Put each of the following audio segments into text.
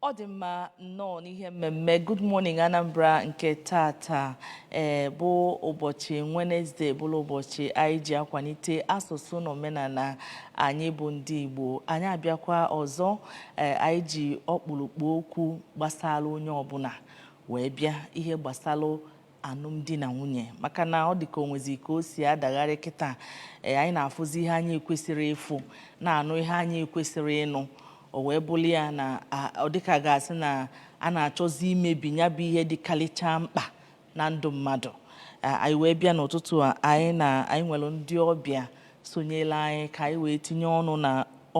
ọ dị mma nnọọ n'ihe mmemme Good Morning Anambra nke tata ee eh, bụ ụbọchị Wenesde bụrụ ụbọchị anyị ji akwalite asụsụ na omenala anyị bụ ndị Igbo anyị abịakwa ọzọ ee eh, anyị ji ọkpụrụkpụ okwu gbasara onye ọbụla wee bịa ihe gbasara alụmdi na nwunye maka na ọ dị ka o nwezi ka o si adagharị kịta ee anyị na-afụzi ihe anyị ekwesịrị ịfụ na-anụ ihe anyị ekwesịrị ịnụ o wee bụrụ ya na ọ dịka ga-asị na a na-achọzi imebi ya bụ ihe dị karịchaa mkpa na ndụ mmadụ anyị wee bịa n'ụtụtụ a anyị nwere ndị ọbịa sonyelụ anyị ka anyị wee tinye ọnụ na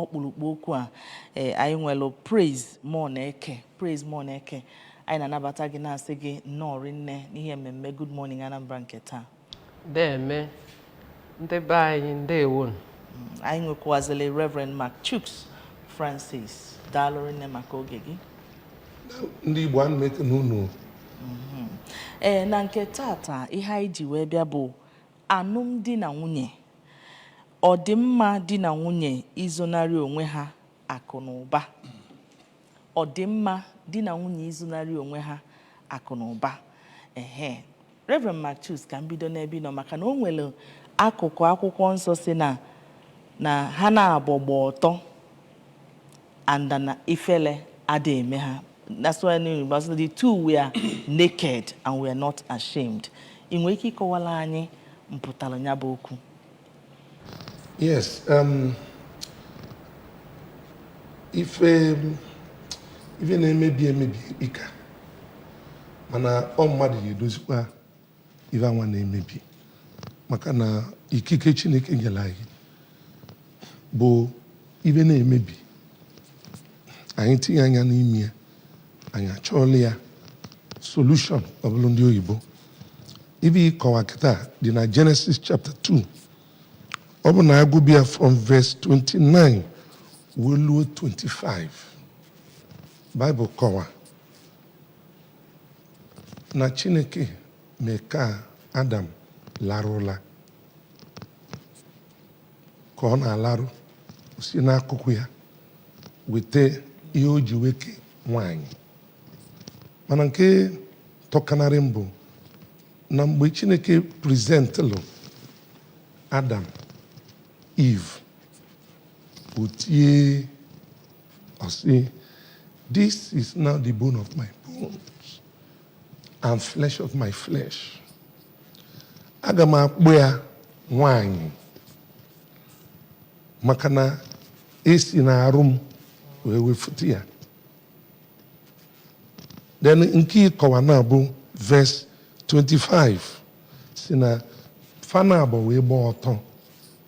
ọkpụrụkpụ okwu a e, anyị nwere Praise Moneke Praise Moneke anyị na-anabata gị na-asị gị nnọọ rinne n'ihe mmemme Good Morning Anambra nke taa deme ndị be anyị ndewo mm, anyị nwekwazili Reverend Mark Chuks Francis daalụ rinne maka oge gị ndị Igbo ana m ekene unu mm-hmm. ee eh, na nke tata ihe anyị ji wee bịa bụ Alụmdi na nwunye, Ọ dị mma di na nwunye izonarị onwe ha akụ na ụba? Ọ dị mma di na nwunye izonarị onwe ha akụ na ụba? Ehe. Reverend Mark Chuks, ka m bido n'ebe ị nọ maka na o nwere akụkụ akwụkwọ nsọ sị na ha naabọ gba ọtọ. and na ifele ada eme ha that's why the two were naked and were not ashamed ị nwere ike ịkọwara anyị mpụtara ya bụ okwu yes um, ife ife na-emebi emebi ikpika mana ọ mmadụ ga-edozikwa ife anwa na-emebi maka na ikike Chineke nyere anyị bụ ife na-emebi anyị tinye anya n'ime ya anyị achọọlụ ya solution ọ bụlụ ndị oyibo ife ị kọwa kịta dị na Genesis chapter 2 ọ bụ na a gụbe ya from verse 29 wee luo 25 Bible kọwa na Chineke mee ka Adam larụ ụla ka ọ na-alarụ o si n'akụkụ ya weta ihe o ji wee kee nwanyị mana nke tọkanarị m bụ na mgbe Chineke presentlụ Adam Eve o tie Ọ sị, This is now the bone of my bones and flesh of my flesh. Aga m akpọ ya nwanyị maka na esi na arụ m wee wefụta ya then nke ịkọwa na-abụ verse 25 sị na fa naabọ wee gbaa ọtọ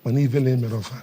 mana ivele emerọ fa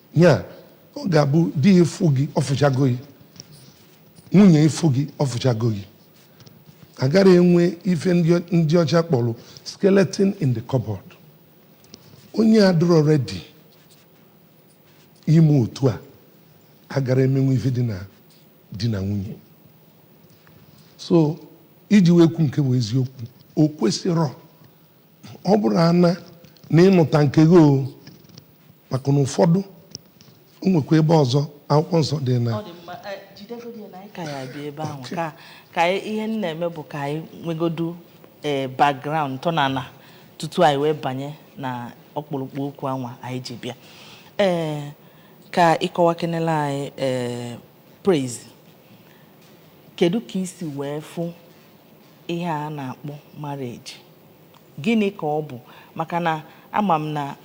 ya ọ ga-abụ di gị fụ gị ọ fụchago gị nwunye gị fụ gị ọ fụchago gị agara enwe ife ndị ọcha kpọrọ skeleton in the cupboard onye adịrọ ready ime otu a agara emenwu ife dị na di na nwunye so iji wee kwuo nke bụ eziokwu o kwesịrọ ọ bụrụ ana na ị nụta nke gị o maka na ụfọdụ o nwekwa ebe ọzọ akwụkwọ nsọ dị na ọ dị mma Eh, jidegodi ya na anyị ka ya-abịa ebe ahụ ka ka anyị- ihe m na-eme bụ ka anyị nwegodu ee background ntọnana tutu anyị wee banye na ọkpụrụkpụ okwu anwa anyị ji bịa ee ka ị kọwakenela anyị ee Praise. Kedu ka i si wee fụ ihe a na-akpọ marriage? Gịnị ka ọ bụ? Maka na ama m na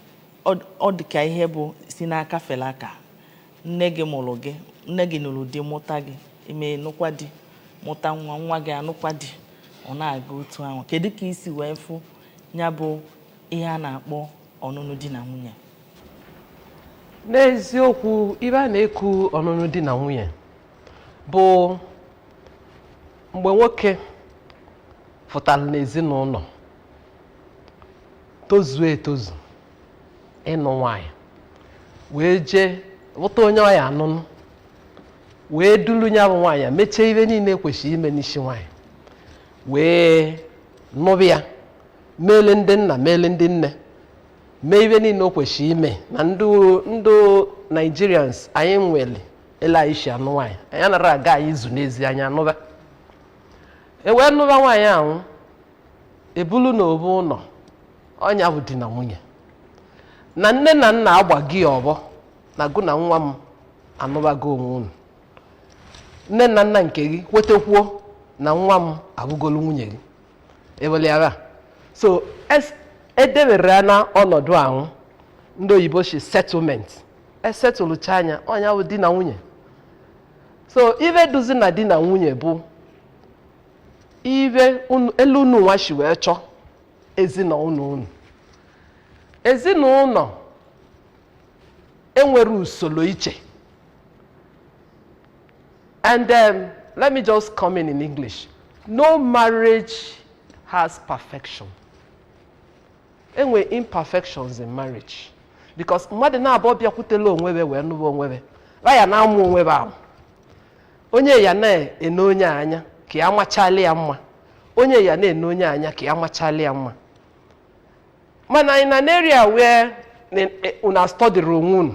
ọ dị ka ihe bụ si n'aka fele aka. Nne gị mụrụ gị, nne gị nụrụ di mụta gị, i mee nụkwa di mụta nwa, nwa gị anụkwa di. Ọ na-aga otu ahụ. Kedu ka i si wee fụ nya bụ ihe a na-akpọ ọnụnụ di na nwunye? n'eziokwu ive a na-eku ọnụnụ di na nwunye bụ mgbe nwoke fụtara n'ezinụlọ tozuo etozu ịnụ nwanyị wee jee vụta onye ọ ya-anụnụ wee dulu nya bụ nwaanyị mechie ive niile kwesịrị ime n'isi nwaanyị wee nụba ya meele ndị nna meele ndị nne mee ive niile o kwesịrị ime na ndị ndị Nigerians anyị nwere ele anyị si anụ nwaanyị anyị anara aga anyị zu n'ezi anyị anụba e wee nụba nwaanyị ahụ e bulu na ovu ụnọ ọ nya bụ di na nwunye na nne na nna agba gị ọbọ na gụ na nwa m anụbago onwe unu nne na nna nke gị kwetekwuo na nwa m abụgolu nwunye gị eweliara so es- edebere ya na ọnọdụ ahụ ndị oyibo si settlement e settlechaa nya ọ nya bụ di na nwunye so ibe dụzị na di na nwunye bụ ibe unu- elu unu nwa si wee chọọ ezinụlọ unu ezinụlọ enwere usoro iche And um, let me just come in in English. No marriage has perfection. E nwe imperfections in marriage. Because mmadụ naabọ bịakwutela onwe be wee nụba onwe be. Ba ya na-amụ onwe be amụ. Onye ya na-ene onye a anya ka ya machali ya mma. Onye ya na-ene onye a anya ka ya machali ya mma. Mana in an area where na- eh, unu a-study onwe unu,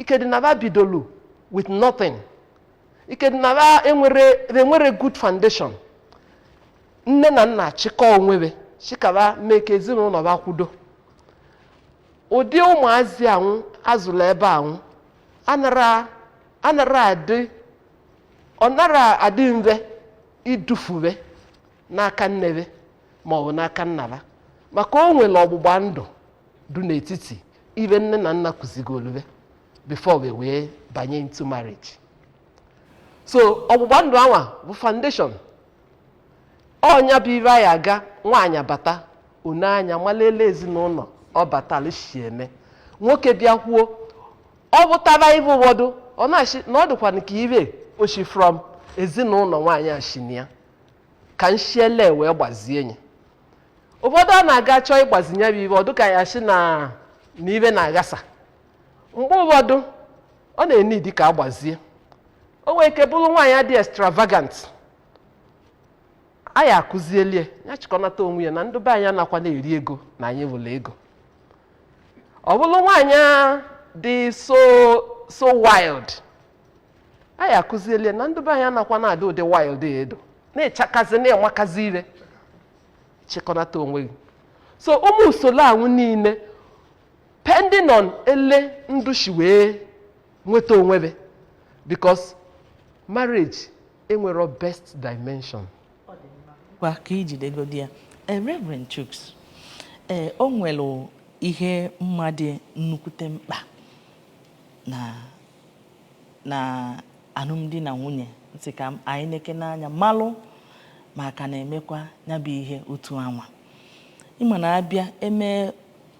ike dị na ba bidolu with nothing ike dị na ba enwere good foundation nne na nna chịkọ onwe be chịkọ ba mee ka ezinụlọ ba kwudo ụdị ụmụazị anwụ a zụrụ ebe anwụ anara anara adị ọ nara adị mfe idufu be n'aka nne be maọbụ n'aka nna ba maka o nwere ọgbụgba ndụ dị n'etiti ibe nne na nna kụzigoolu be before be wee banye into marriage so ọgbụgba ndụ anwa bụ foundation ọ nya bụ ibe anyị aga nwaanyị bata o nee anya malụ ele ezinụlọ ọ batala si eme nwoke bịakwuo ọ fụtaba ibe ụfọdụ ọ na-ashị na ọ dịkwa nke ibe o shi from ezinụlọ nwaanyị ashị nya ka n shi ele wee gbazie nye ụfọdụ a na-aga chọọ ịgbazi nye bụ ibe ọ dịka ya si na ibe na-aghasa mgbe ụfọdụ ọ na-ene idi ka a gbazie o nwee ike bụrụ nwaanyị dị extravagant a ya-akụzielie nya chịkọnata onwe ya na ndị be anyị anakwa na-eri ego na anyị fụlụ ego ọ bụrụ nwaanyị dị so so wild a ya-akụzielie na ndị be anyị anakwa na-adị ụdị wild edo na-achakazị na-enwakazi ire chịkọnata onwe gị so ụmụ usoro anwụ niile pending on ele ndị shi wee nweta onwe be because marriage enwero best dimension kwa ka i jidegodi ya Eh, Reverend Chuks ee o nwere ihe m ma dị nnukwute mkpa na na alụmdi na nwunye m sị ka anyị nekene anya malụ ma a ka na-emekwa ya bụ ihe otu anwa ị ma na a bịa eme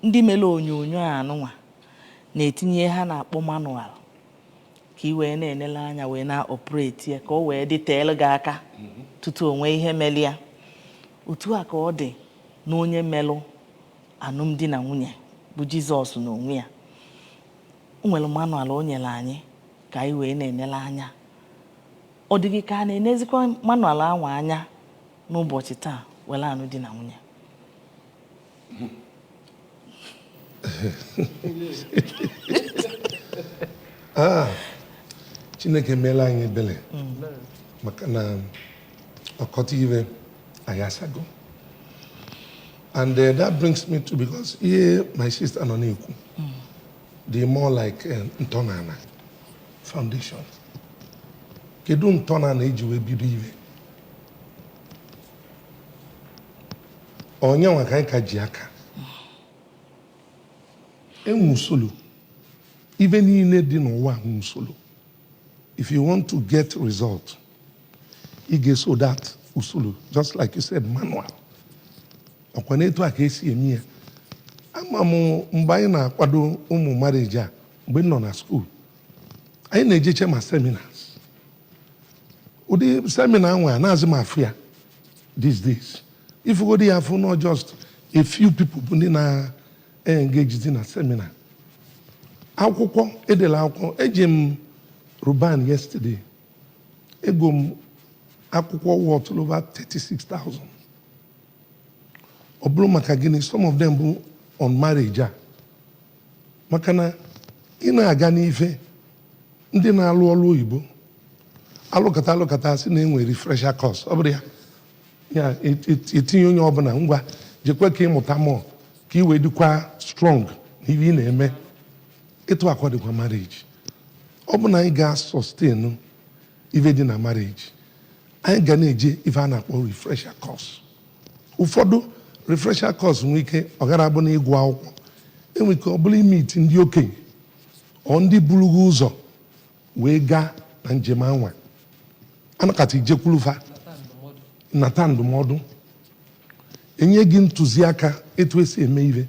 ndị mere onyonyo anụnwa na-etinye ihe a na-akpọ manual ka ị wee na-enele anya wee na-operate ya ka o wee dịteelụ gị aka mhm. tutu o nwee ihe mere ya otu a ka ọ dị na onye melụ alụmdi na nwunye bụ Jizọs na onwe ya O nwere manual o nyere anyị ka anyị wee na-enele anya. Ọ dịghị ka a na-enezikwa manual anwa anya n'ụbọchị taa were anụ di na nwunye. Ah, Chineke meelụ anyị ebele maka na ọkọtọ ife ayasago. and uh, that brings me to because ihe my sister nọ na-ekwu dị more like uh, ntọnala foundation kedu ntọnala e ji wee bido ife ọ nya nwa ka anyị ka ji aka enwe usoro ife niile dị n'ụwa nwe usoro if you want to get result ị ga-eso that usoro just like you said manual ọkwa na etu a ka esi eme ya ama m mgbe anyị na-akwado ụmụ marriage a mgbe m nọ na school anyị na-ejecha ma seminars ụdị seminar nwa anazị m afụ ya these days ị fụgodi ya afụ na ọ just a few people bụ ndị na engagezi na seminar akwụkwọ e delụ akwụkwọ eje m Roban yesterday ego m akwụkwọ worth over 36,000 ọ bụrụ maka gịnị some of them bụ on marriage a maka na ị na-aga n'ife ndị na-alụ ọlụ oyibo alụkata alụkata sị na e nwee refresher course ọ bụrụ ya ya et- et- etinye onye ọbụla ngwa jekwa ka ị mụta more ka i wee dịkwa strong na ihe ị na-eme etu a kwa dịkwa marriage ọ bụ na anyị ga-sustain ife dị na marriage anyị ga na-eje ife a na-akpọ refresher course ụfọdụ refresher course nwee ike ọ gara abụ na ịgụ akwụkwọ enwere ike ọ bụrụ ị-meet ndị okenye or ndị buru gị ụzọ wee gaa na njem anwa a nọkata i jekwulu fa nata ndụmọdụ enye gị ntụziaka etu esi eme ihe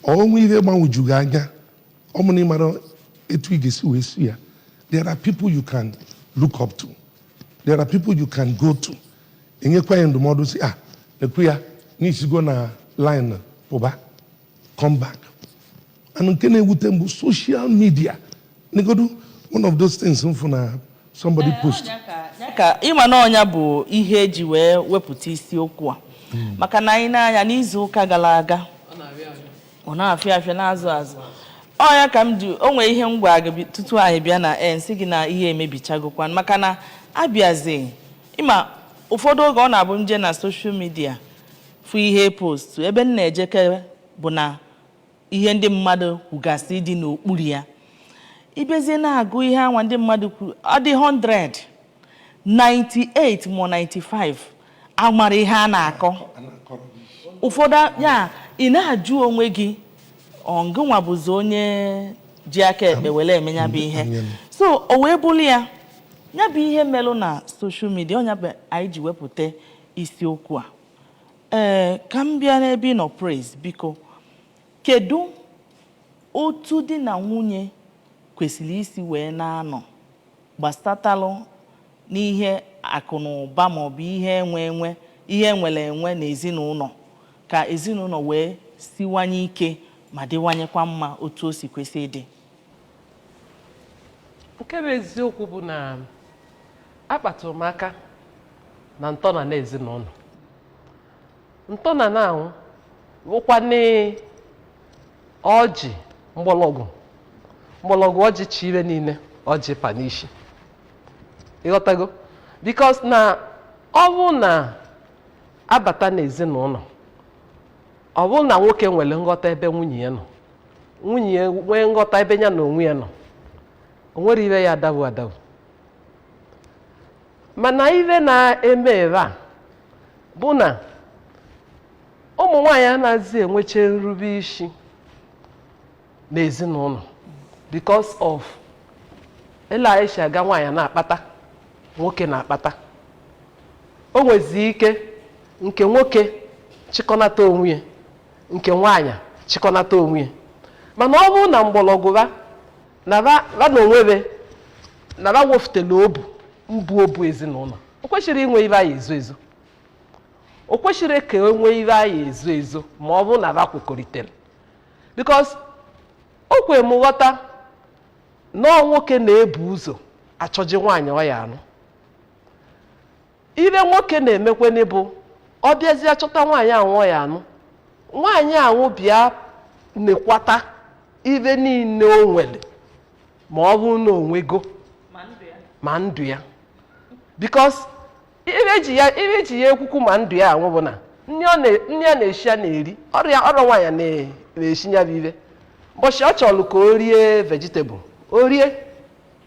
o nwee ihe gbagwoju gị anya ọ bụrụ na ị mara etu ị ga-esi wee si ya there are people you can look up to there are people you can go to e nyekwa gị ndụmọdụ sị ah nekwa ya na i sigo na line pụba come back and nke na-ewute m bụ social media negodu one of those things m fụ na somebody eh, post ka ị ma na ọ nya bụ ihe eji wee wepụta isiokwu a hmm. maka na anyị na-anya n'izu ụka gara aga ọ na-afịa afịa na-azụ azụ ọ nya ka m ji o nwee ihe m gwa gị tutu anyị bịa na eh, m sị gị na ihe emebichagokwan maka na a bịazi ị ma ụfọdụ oge ọ na-abụ m je na social media fụ ihe post ebe m na-ejekere bụ na ihe ndị mmadụ kwugasị dị n'okpuru ya ị bịazie na-agụ ihe anwa ndị mmadụ kwuru ọ dị 100 98 ma 95 amarọ ihe a na-akọ ụfọdụ ya ị na-ajụ onwe gị ọ ngịnwa bụzi onye ji aka ekpe wele eme nya bụ ihe so o wee bụrụ ya nya bụ ihe melụ na social media ọ nya bụ anyị ji wepụta isiokwu a Ee, ka m bịa n'ebe ị nọ Praise, biko kedu otu di na nwunye kwesịrị isi wee na-anọ gbasatalụ n'ihe akụ na ụba maọbụ ihe enwe enwe ihe enwere enwe na ezinụlọ ka ezinụlọ wee siwanye ike ma dịwanyekwa mma otu o si kwesị ịdị nke bụ eziokwu bụ na akpatụrụ m aka na ntọna na ezinụlọ ntọna na anwụ wụkwanụ ọjị mgbọlọgwụ mgbọlọgwụ ọjị chị ibe niile ọjị pa n'isi ị ghọtago because na ọ bụ na a bata n'ezinụlọ ọ bụrụ na nwoke nwere nghọta ebe nwunye ya nọ nwunye ya nwee nghọta ebe ya na onwe ya nọ o nwere ibe ya adabu adabu mana ibe na-eme ebe a bụ na ụmụ nwaanyị anaghịzi enwecha nrube isi n'ezinụlọ because of ele anyị si aga nwaanyị na-akpata nwoke na-akpata o nwezi ike nke nwoke chịkọnata onwe ya nke nwaanyị chịkọnata onwe ya mana ọ bụrụ na mgbọlọgwụ ba na ba na onwe ba na ba wefutela obu mbụ obu ezinụlọ o kwesịrị inwe ibe a ya-ezo ezo o kwesịrị ka e nwee ibe a ya-ezo ezo ma ọ bụrụ na ba kwekọritere because o kwere m ghọta na ọ nwoke na-ebu ụzọ achọje nwaanyị ọ ya-anụ ibe nwoke na-emekweni bụ ọ bịazie chọta nwaanyị anwụ ọ ya-anụ nwaanyị anwụ bịa nekwata ibe niile o nwere ma ọ bụ na o nwe ego ma ndụ ya because ibe ji ya ibe ji ya ekwukwu ma ndụ ya anwụ bụ na nri ọ na- nri a na-eshi ya na-eri ọrịa ọrọ nwaanyị na- na-eshi ya bụ ibe mbọchị ọ chọrọ ka o rie vegetable o rie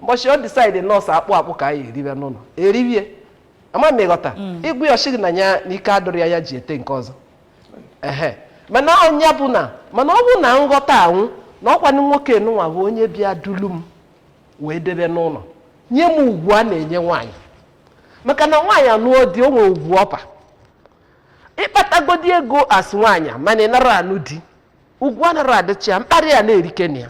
mbọchị ọ decide na ọ sụ akpụ akpụ ka anyị eribe n'ụlọ eribie ama m ị ghọta ị gwa ya ọ shị gị na ya na ike adọrọ ya ya ji ete nke ọzọ ehe mana onye bụ na mana ọ bụ na nghọta anwụ na ọkwanụ nwoke nụnwa bụ onye bịa dulu m wee debe n'ụlọ nye m ugwu a na-enye nwaanyị maka na nwaanyị anụọ di o nwee ugwu ọpa ị kpatagodi ego as nwaanyị a, mana ị nara anụ di ugwu anara adịcha ya mkparị ya na-erike na ya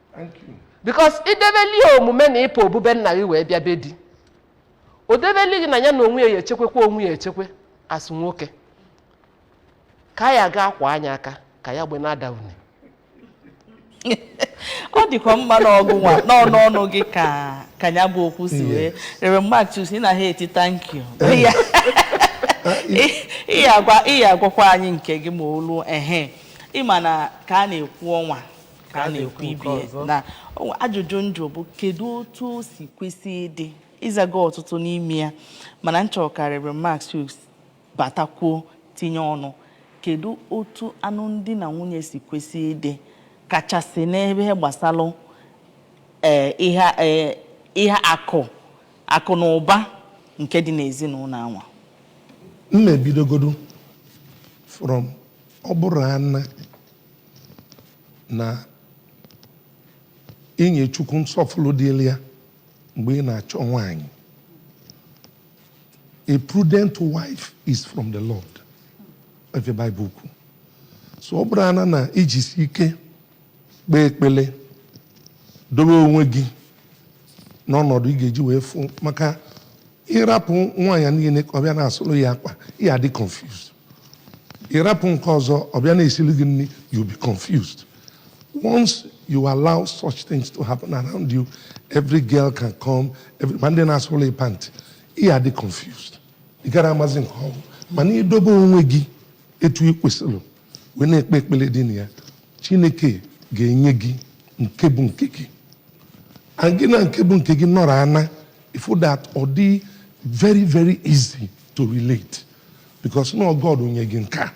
because i debeli ya omume na ị pụ obu be nna gị wee bịa be di o debeli gị na ya na onwe ya ya echekwekwa onwe ya echekwe as nwoke ka ya ga akwa anya aka ka ya gbe na-ada une ọ dịkwa mma na ọ gịnwa n'ọnụ ọnụ gị ka ka ya bụ okwu si wee rere Marcus ị na-aṅa ntị thank you Ya- ị- ị agwa- ị agwakwa anyị nke gị ma o lu ehe ị ma na ka a na-ekwu ọnwa ka a na-ekwu ibe na ajụjụ m jụ bụ kedu otu o si kwesị ịdị ị zaga ọtụtụ n'ime ya mana m chọrọ ka Rev Marcus batakwuo tinye ọnụ kedu otu anụmdi na nwunye si kwesị ịdị kachasị n'ebe gbasara eh, ihe eh, ihe akụ akụ na ụba nke dị n'ezinụlọ anwa m na-ebidogodu from ọ bụrụ ana na i nye Chukwu nsọfụrụ dịrị ya mgbe ị na-achọ nwaanyị a prudent wife is from the Lord ọ ife Bible kwu so ọ bụrụ ana na i jisi ike kpee ekpele dobe onwe gị n'ọnọdụ ị ga-eji wee fụ maka ị rapụ nwaanyị niile ka ọ bịa na-asụrụ ya akwa ị ya-adị confused ị rapụ nke ọzọ ọ bịa na-esiri gị nri you be confused once you allow such things to happen around you every girl can come every ma ndị na-asụlụ ị pant ị ya-adị confused ị gara amazi nke ọ bụ mana i dobe onwe gị etu ị kwesịrị wee na-ekpe ekpere dị na ya chineke ga-enye gị nke bụ nke gị and gị na nke bụ nke gị nọrọ ana ị fụ that ọ dị very very easy to relate because na ọ God nye gị nke a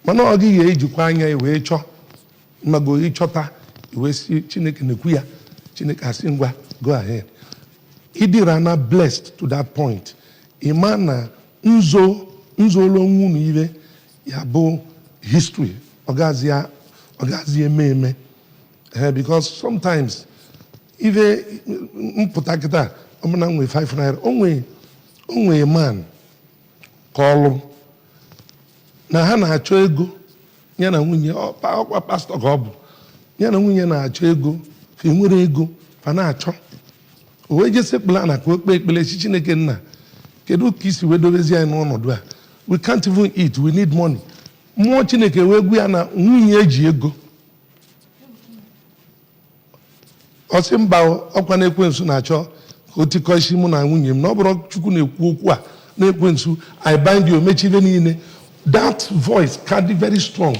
mana ọ gị ga-ejikwa anya gị wee chọọ ịmago ịchọta i wee sị chineke nekwa ya chineke asị ngwa go ahead ịdịra na blessed to that point ịma na nzo nzolo onwe unu ife ya bụ history ọ gazi eme eme ee eh, because sometimes ife m pụta kịta ọ bụ na m nwee 5 naira o nwe man kwulu na ha na-achọ ego ya na nwunye ọkwa pastọ ka ọ bụ ya na nwunye na-achọ ego fa enwerọ ego fa na-achọ o wee je sekpulu ana ka o kpee ekpele sị chineke nna kedu ka i si wee dobezi anyị n'ọnọdụ a we can't even eat we need money mmụọ chineke wee gwa ya na nwunye ya ji ego ọ sị mba ọkwa na ekwensu na-achọ ka o tikọ isi mụ na nwunye m na ọ bụrọ chukwu na-ekwu okwu a na ekwensu i bind you mechaa ife niile that voice ka dị very strong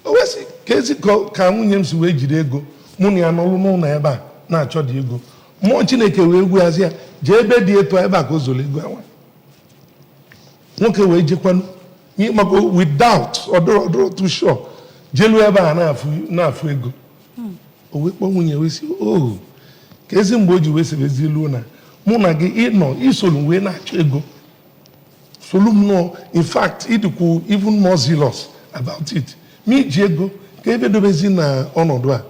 o wee sị kezi ka nwunye m si wee jide ego mụ na ya nọlụ n'ụlọ ebe a na-achọ dị ego mmụọ chineke wee gwazi ya jee ebe dị etu ebe a ka o zoro ego anwa nwoke wee jekwanụ ịmago with doubt ọ dụrọ ọ dụrọ too sure jelu ebe a na-afụ ego hmm. o wee kpọọ nwunye wee sị ohu oh, kezi mgbe i ji wee sebezi ilu na mụ na gị ị nọ i solu m wee na-achọ ego solu m nọọ in fact ị dịkwu even more zealous about it ma i ji ego ka ebe dobezi na ọnọdụ a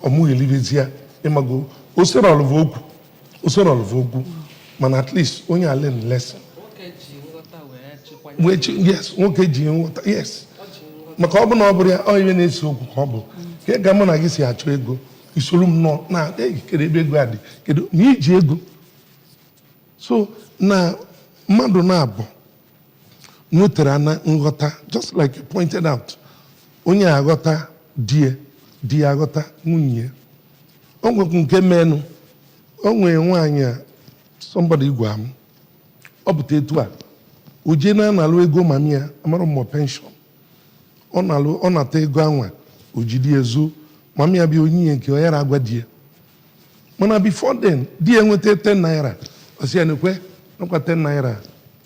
ọmụghelibezie ịmago o serọlụ fa okwu o serọlụ fa okwu mana at least onye a learn lesson yes nwoke ji nghọta yes maka ọ bụ na ọ bụrọ ya ọ ife na-ese okwu ka ọ bụ kee ka mụ na gị si achọ ego i soro m nọ na kedu ebe ego a dị kedu ma i ji ego so na mmadụ naabọ nwetara na nghọta just like you pointed out onye aghọta di ya di aghọta nwunye o nwekwu nke menụ o nwere nwaanyị a somebody gwa m ọ pụta etu a o jee na-analụ ego mami ya amarọ m ma ọ penshọn ọ na ọ nata ego anwa o jide zoo mami ya bịa o nye ya nke ọ yara agwa di ya mana before then di ya nweta 10 naira ọ sị ya nekwe ọkwa 10 naira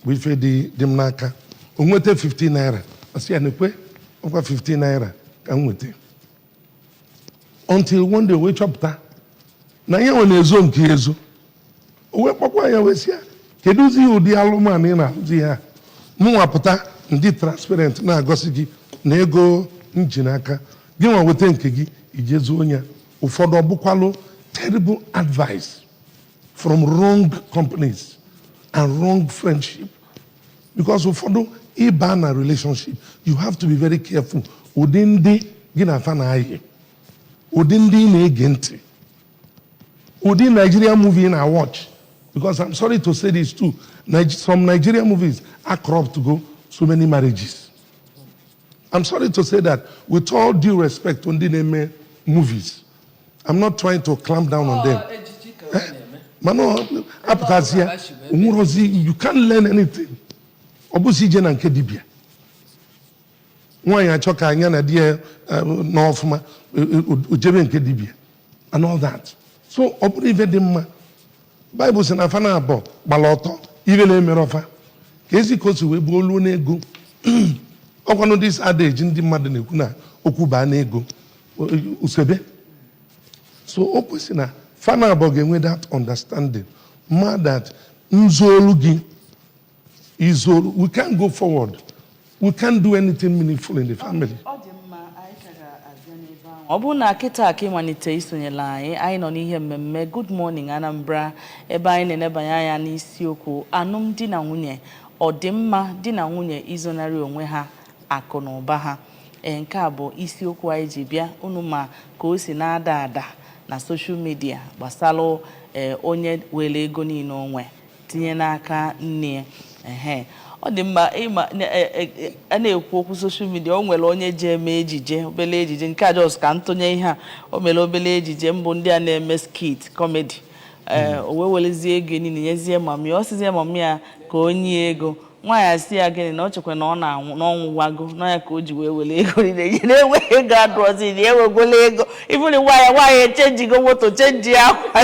bụ ife dị m n'aka o nweta 15 naira ọ sị ya nekwe ọkwa 15 naira ka m nweta until one day o wee chọpụta na ya nwa na-ezo nke ya ezo o wee kpọkwa ya wee sị ya kedụzi ụdị alụmanụ ị na-alụzi ihe a mụnwa pụta m dị transparent na-egosi gị na ego m ji n'aka gị nwa weta nke gị i je zoo ya ụfọdụ ọ bụkwalụ terrible advice from wrong companies and wrong friendship because ụfọdụ ị baa na relationship you have to be very careful ụdị ndị gị na fa na-ayị ụdị ndị ị na-ege ntị ụdị Nigeria movie ị na-watch because I'm sorry to say this too some Nigeria movies acorruptugo so many marriages I'm sorry to say that with all due respect to ndị na-eme movies I'm not trying to clamp down on them. Eh? mana a pụtazịa o nwerọzi you can't learn anything ọ bụzi ije na nke dibia nwaanyị achọ ka nya na di ya eh, nọ ọfụma eh, eh, o jebe nke dibia and all that so ọ bụrọ ife dị mma Bible sị na fa naabọ gbara ọtọ ifele emerọ fa kezi ka o si wee bụ o luo n'ego ọkwanụ this adage ndị mmadụ na-ekwu na okwu baa n'ego ụsa ebe so o kwesị na fa naabọ ga-enwe that understanding ma that m zolu gị i zolu we can't go forward we can't do anything meaningful in the family ọ bụrụ na kịta ka ị malite isonyela anyị anyị nọ n'ihe mmemme Good Morning Anambra ebe anyị na-enebanye anya n'isiokwu alụmdi na nwunye ọdịmma di na nwunye izonarị onwe ha akụ na ụba ha ee nke a bụ isiokwu anyị ji bịa unu ma ka o si na-ada ada na social media gbasara ee onye were ego niile o nwe tinye n'aka nne ya ehe ọ dị mma ịma na- e- e- e- a na-ekwu okwu social media o nwere onye ji eme ejije obele ejije nke a just ka m tụnye ihe a o mere obele ejije mbụ ndị a na-eme skit comedy ee o wee werezie ego niile nyezie mami ya ọ sịzie mami ya ka o nye ego nwaanyị asị ya gịnị na o chekwa na ọ na-anwụ na ọ nwụwago na ya ka o ji wee were ego niile nye na enweghị ego adịrọzi na e wegolu ego ị fụlụ nwaanyị nwaanyị echenjigo moto chenji akwa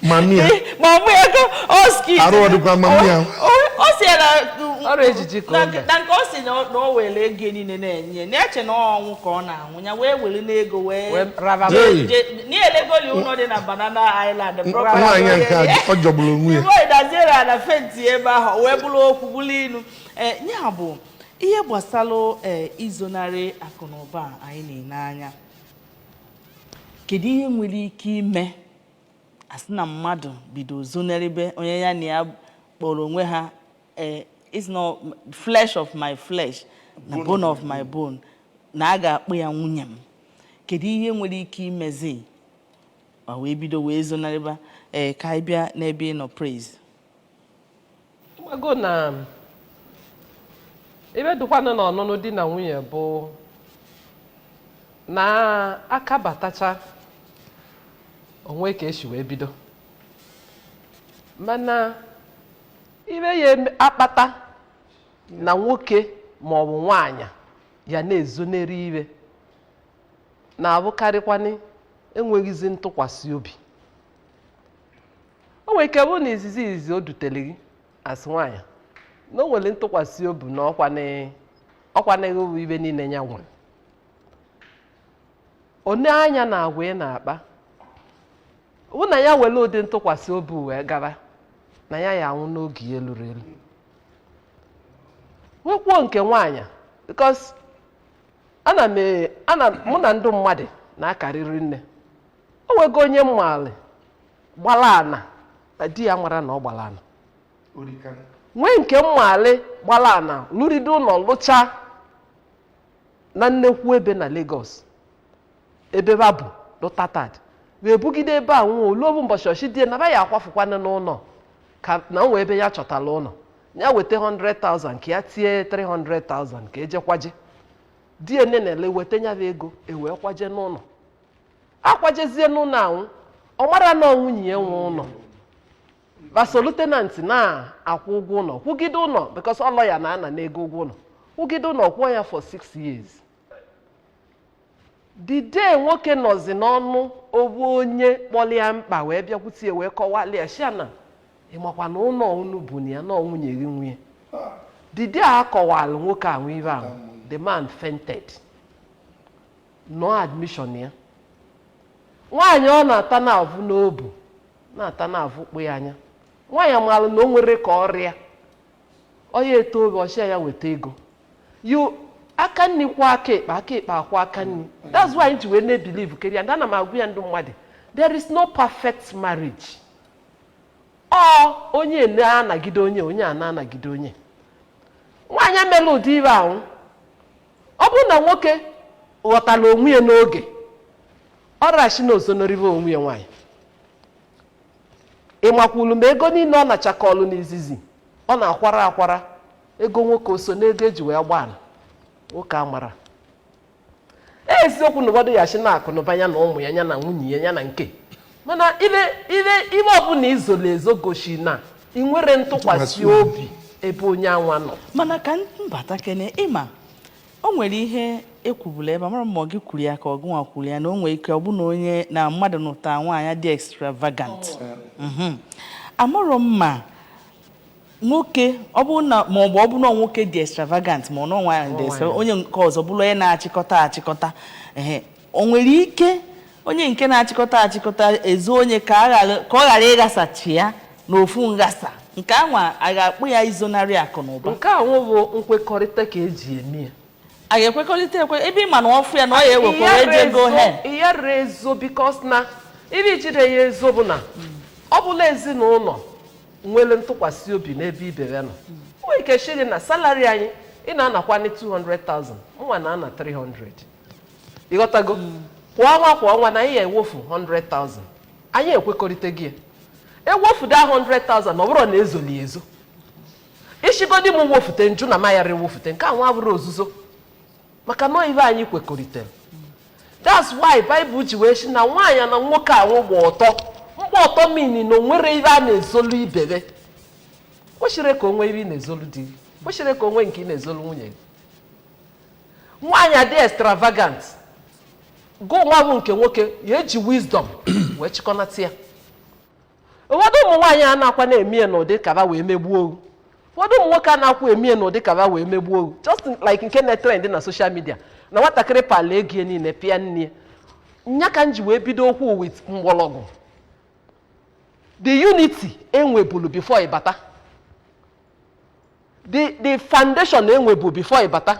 mami ya eh, mami ya ka oski arụ ọ dịkwa mami ya ọ sị ya na ọrụ ejiji ka ọ na nke ọ sị na o were ego niile na-enye na-eche na ọnwụ ka ọ na-anwụ ya wee were n'ego wee Wee raba m. Hey. niile golu ụlọ dị na Banana Island nwaanyị nke a ọ jọgburu onwe ya o wee daziere ya na fenti ebe ahụ wee bụrụ okwu bụrụ ilu ee ya bụ ihe gbasara ee izonarị akụ na ụba a anyị na-ele anya kedu ihe nwere ike ime a sị na mmadụ bido zonarịbe onye ya na ya kpọrọ onwe ha Eh, it's not flesh of my flesh na bone of my bone na a ga-akpọ ya nwunye m kedu ihe nwere ike imezi ma wee bido wee zonarịba ee eh, ka anyị bịa n'ebe ị nọ praise mago na ive dụkwanụ na ọnụnụ di na nwunye bụ na akabatacha o nwe ka e si wee bido mana ive ya-akpata na nwoke ma ọ bụ nwaanyị ya na-ezonarị ive na-abụkarịkwanị enweghịzi ntụkwasị obi o nwere ike bụ na izizi izizi o dutere gị asị nwaanyị na o nwere ntụkwasị obi na ọkwanịghị ọkwanịghị bụ ive niile ya nwere o nee anya na agwa ị na-akpa bụ na ya were ụdị ntụkwasị obi wee gara na ya ya-anwụ n'oge ya eluro elu nwekwuo nke nwaanyị because ana m e- ana m- mụ na ndị mmadụ na-akarị rinne o nwego onye m maalị gbara ana na di ya amarọ na ọ gbara ana nwee nke m maalị gbara ana lụride ụlọ lụchaa na nnekwu ebe na Lagos ebe va bụlụ tenant wee bugide ebe ahụ o lu ovu mbọchị ọ shị di ye na va ya-akwafụkwana n'ụlọ ka na o nwe ebe ya chọtara ụlọ ya weta 100,000 ka ya tie 300,000 ka e je kwaje di ye nne na-ele weta ya bụ ego e wee kwaje n'ụlọ akwajezie n'ụlọ ahụ ọ marọ na ọ nwunye ya nwe ụlọ va solu tenant na-akwụ ụgwọ ụlọ kwụgide ụlọ because ọ lawyer na-ana ego ụgwọ ụlọ kwụgide ụlọ kwụọ ya for six years the day nwoke nọzi n'ọnụ ovu onye kpọlị ya mkpa wee bịakwute ya wee kọwalị ya shị ya na ị makwa na ụlọ unu bu na ya na nwunye gị nwe ya the day a kọwara nwoke ahụ ive ahụ the man fainted nọ admission ya nwaanyị ọ na-ata na-avụ n'obu na-ata na-avụkpụ ya anya nwaanyị amaala na o nwere ka ọrịa ọya eto oge ọ shị ya weta ego aka nri kwọọ aka ekpe aka ekpe akwọọ aka nri that's why anyị ji wee na-ebelieve keri and ana m agwa ya ndị mmadụ there is no perfect marriage ọ onye na-anagide onye onye a na-anagide onye nwaanyị emela ụdị ive ahụ ọ bụrụ na nwoke ghọtara onwe ya n'oge ọ rashi na o zonarịve onwe ya nwaanyị ịmakwulu ma ego niile ọ nachakọlụ n'izizi ọ na-akwara akwara ego nwoke o so n'ego eji wee gbaa ala nwoke amara eziokwu na ụfọdụ ya ashị na akụ na ụba ya na ụmụ ya ya na nwunye ya ya na nke mana ibe ibe ibe ọbụla i zolo ezo gosi na i nwerọ ntụkwasị obi ebe onye anwa nọ mana ka m bata kene ịma O nwere ihe e kwubulu ebe a, amarọ m ma ọ gị kwuru ya ka ọ gụnwa kwuru ya na o nwere ike ọ bụ na onye na mmadụ nụta nwaanyị dị extravagant Mhm. amarọ m ma nwoke ọ bụrụ na ma ọ bụ ọ bụrụ na nwoke dị extravagant ma ọ na nwaanyị dị extravagant onye nke ọzọ bụrụ onye na-achịkọta achịkọta ehe o nwere ike onye nke na-achịkọta achịkọta ezo onye ka ọ ghara ịghasacha ya n'ofu nghasa nke anwa a ga-akpọ ya izonarị akụ na ụba nke anwụ bụ nkwekọrịta ka eji eme ya a ga-ekwekọrịta ekwe ebe ị ma na ọ fụ ya na ọ ya ewekwara ejego he ya rere ezo bikos na ibe jide ya ezo bụ na ọ bụlụ na ezinụlọ nwere ntụkwasị obi n'ebe ibe be nọ nwere ike shiri na salari anyị ị na-anakwa 200,000 mụnwa na-ana 300 ịghọtago kwa ọnwa kwa ọnwa na anyị ya ewofu 100,000 anyị ekwekọrịta gị ya ewofudo ahụ 100,000 ọ bụrọ na e zolu ezo i shigodi m wofute m jụ na mayara ewofute nke anwa abụrọ ozuzo maka na ibe anyị kwekọrịtara that's why Bible ji wee si na nwaanyị na nwoke anwụ gba ọtọ mgba ọtọ mean na o nwerọ ibe a na-ezolu ibe be kwesirọ ka o nwee ibe ị na-ezolu di gị kwesirọ ka o nwee nke ị na-ezolu nwunye gị nwaanyị adị extravagant gụ nwa bụ nke nwoke ya eji wisdom wee chịkọnata ya ụfọdụ ụmụ nwaanyị a na-akwa na-eme ya n'ụdị ka ba wee megbuo ohu ụfọdụ ụmụ nwoke a na-akwa eme ya n'ụdị kaba wee megbuo ohu just like nke na-etrend na social media na nwatakịrị pala ego ya niile pịa nne ya nya ka m ji wee bido okwu with mgbọrọgwụ the unity e nwebulu before ịbata the the foundation e nwebu before ịbata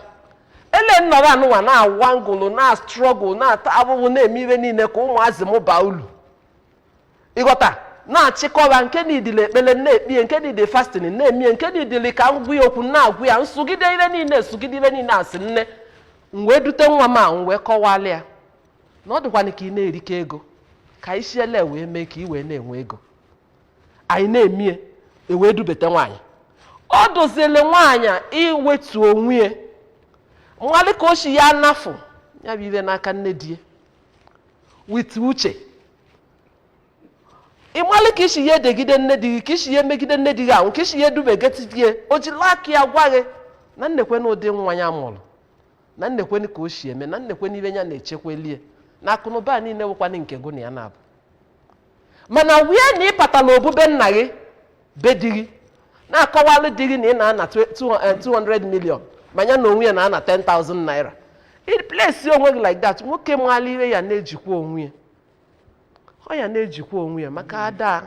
ele nnọrọ anụnwa na-awa ngụlụ na-astruggle na-ata ahụhụ na-eme ihe niile ka ụmụazị m baa ulu ịghọta na-achịkọba nke niidile ekpele na-ekpe ya nke niidile fasting na-eme ya nke niidile ka m gwa ya okwu na-agwa ya m sụgide ihe niile m sụgide ihe niile asị nne m wee dute nwa m a m wee kọwalị ya na ọ dịkwana ka ị na-erike ego ka isiele wee mee ka ị wee na-enwe ego anyị na-emie ewee dubete nwaanyị ọ dịzịlị nwaanyị a iwetu onwe ya malị ka o si ya anafụ ya bụ ihe n'aka nne di ya with uche ị malị ka i si ya edegide nne di gị ka i si ya emegide nne di gị ahụ ka i si ya edubegetitie o jiri aka ya gwa gị na nekwe na ụdị nwa ya mụrụ na nekwe ka o si eme na nekwe ebe ya na-echekwelie na akụnụba a niile wụkwana nke gụ na ya na-abụ mana wee na ị patala ebube nna gị be di gị na-akọwalụ di gị na ị na-ana 200 million ma ya na onwe ya na-ana 10,000 naira ị place onwe gị like that nwoke maala ihe ya na-ejikwa onwe ya ọ ya na-ejikwa onwe ya maka ada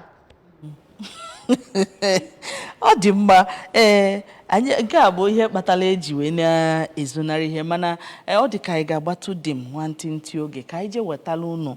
ọ dị mma ee anyị nke a bụ ihe kpatara eji wee na-ezonarị ihe mana ee, ọ dị ka anyị ga-agbatụ dị m nwantịntị oge ka anyị jee wetara unu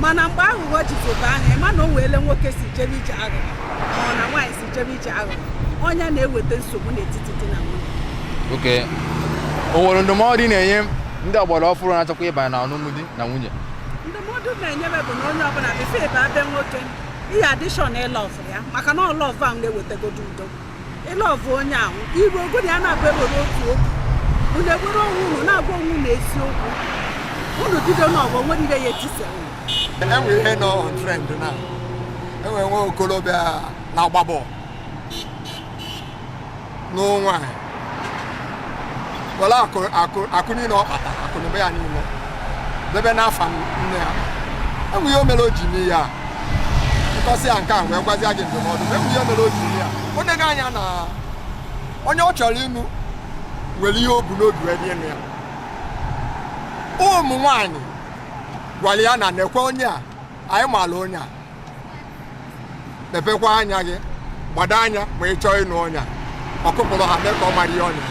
mana mgbe aghụghọ jitebe anya ị ma na o nweele nwoke si jebe ije aghụghọ ma ọ na nwaanyị si jebe ije aghụghọ onye na-eweta nsogbu n'etiti di na nwunye okay o nwere ndụmọdụ ị na-enye ndị ọgbara ọfụrụ na-achọkwa ịbanye na ọnụnụ di na nwunye ndụmọdụ m na-enyebe bụ na onye ọbụla before ị baa be nwoke ị ya adị sure na ị love ya maka na ọ love ahụ na-ewetagodi udo ị love onye ahụ iru ogodi a na-abụ ewere otu okwu unu ewere onwe unu na-agwa onwe unu eziokwu unu bido n'aghụghọ o nwere ike ya etisa enwe ihe nọ on trend na enwe nwa okorobịa na-agba bọọlụ na o wee were akụ niile ọ kpata akụnụba ya niile debe n'afa nne ya enwe ihe o mere o ji mee ya m kọsịa nke a wee gwazie gị ndụmọdụ enwe ihe o mere o ji mee ya o nego anya na onye ọ chọrọ ịnụ nwere ihe o bu n'obi wee bịa ịnụ ya ụmụ nwaanyị gwara ya na nekwe onye a anyị maala onye a mepekwa anya gị gbado anya ma ị chọọ ịnụ onye a ọ kụpụrụ ha mee ka ọ mara ihe ọnya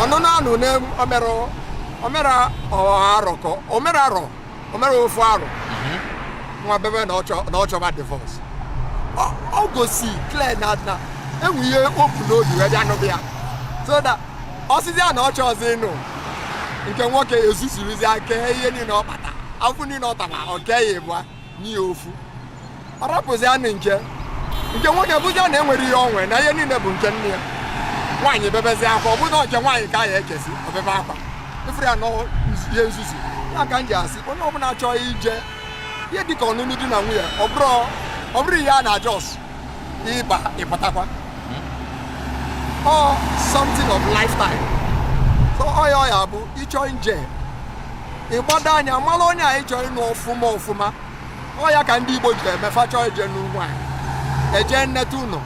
ọnụnụ anụ o mere arọ ka o mere arọ o mere ofu arọ mhm. nwa baby na ọ chọba divorce ọ gosi clear na enwe ihe o bu n'obi wee bịa nụba ya so that ọ sịzịa na ọ chọzị ịnụ nke nwoke ezuzurizi aka ihe niile ọ kpata afụ niile ọ tara ọ kee ya ịbụa nye ya ofu ọ rapụzi anụ nke nke nwoke bụzi a na enwere ihe o nwe na ihe niile bụ nke nne ya nwaanyị bebezi akwa ọ bụrụ na nke nwaanyị ka a ya ekesi o bebe akwa ị fụrụ ya nọọ ihe nzuzu ya ka m ji asị onye ọbụla chọọ ije ihe dịka ọnụnụ di na nwunye ọ bụrụ ihe a na-ajọs ị ba ị pụtakwa ọ something of lifetime so ọ ya ọ ya bụ ị chọọ nje ị gbado anya mara onye a ị chọ ịnụ ọfụma ọfụma ọ ya ka ndị Igbo ji eme fa chọọ ije nụ nwaanyị e jee neta ụlọ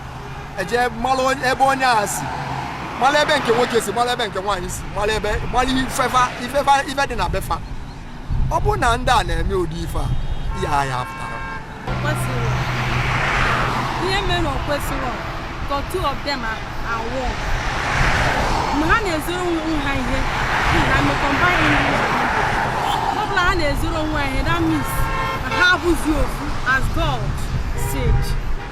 e jee mara onye- ebe onye a si mara ebe nke nwoke si mara ebe nke nwaanyị si mara ebe mara ife fa ife fa ife dị na be fa ọ bụrụ na ndị a na-eme ụdị ife a ihe a ya pụtara kwesịrị ihe mere o kwesịghị ka two of them enwe mgbe ha na-ezoro onwe ha ihe na maka mgbe ọ bụla ha na-ezoro onwe ha ihe that means ha abụzi ofu as God said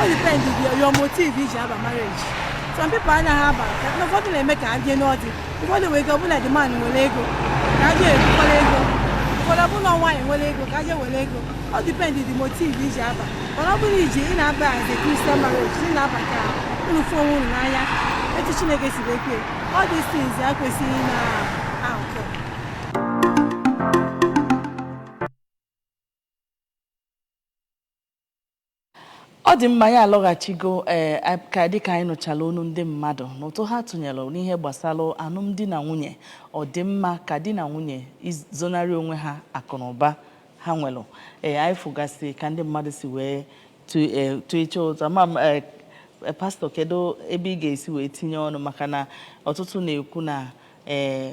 ọ depend your, your motive i ji aba marriage some people anaghị aba na ụfọdụ na-eme ka ha jee nọdụ ụfọdụ nwere ike ọ bụ na the man nwere ego ka ha jee bukwara ego ụfọdụ ọ bụ na nwaanyị nwere ego ka ha jee were ego ọ depend the motive i ji aba mana ọ bụrụ iji ị na-aba as a Christian marriage ị na-aba ka unu fụ onwe unu n'anya etu Chineke si wee kee all these things ekwesịghị na ọ dị mma anyị alọghachigo ee eh, ka dịka anyị nụchala onu ndị mmadụ na ụtụ ha tụnyere n'ihe gbasara alụmdi na nwunye ọ dị mma ka di na nwunye izonarị onwe ha akụ na ụba ha nwere ee eh, anyị fụgasị ka ndị mmadụ si wee tụ iche eh, ụtụ ma pastọ kedu ebe ị ga-esi wee tinye ọnụ maka na ọtụtụ na-ekwu na ee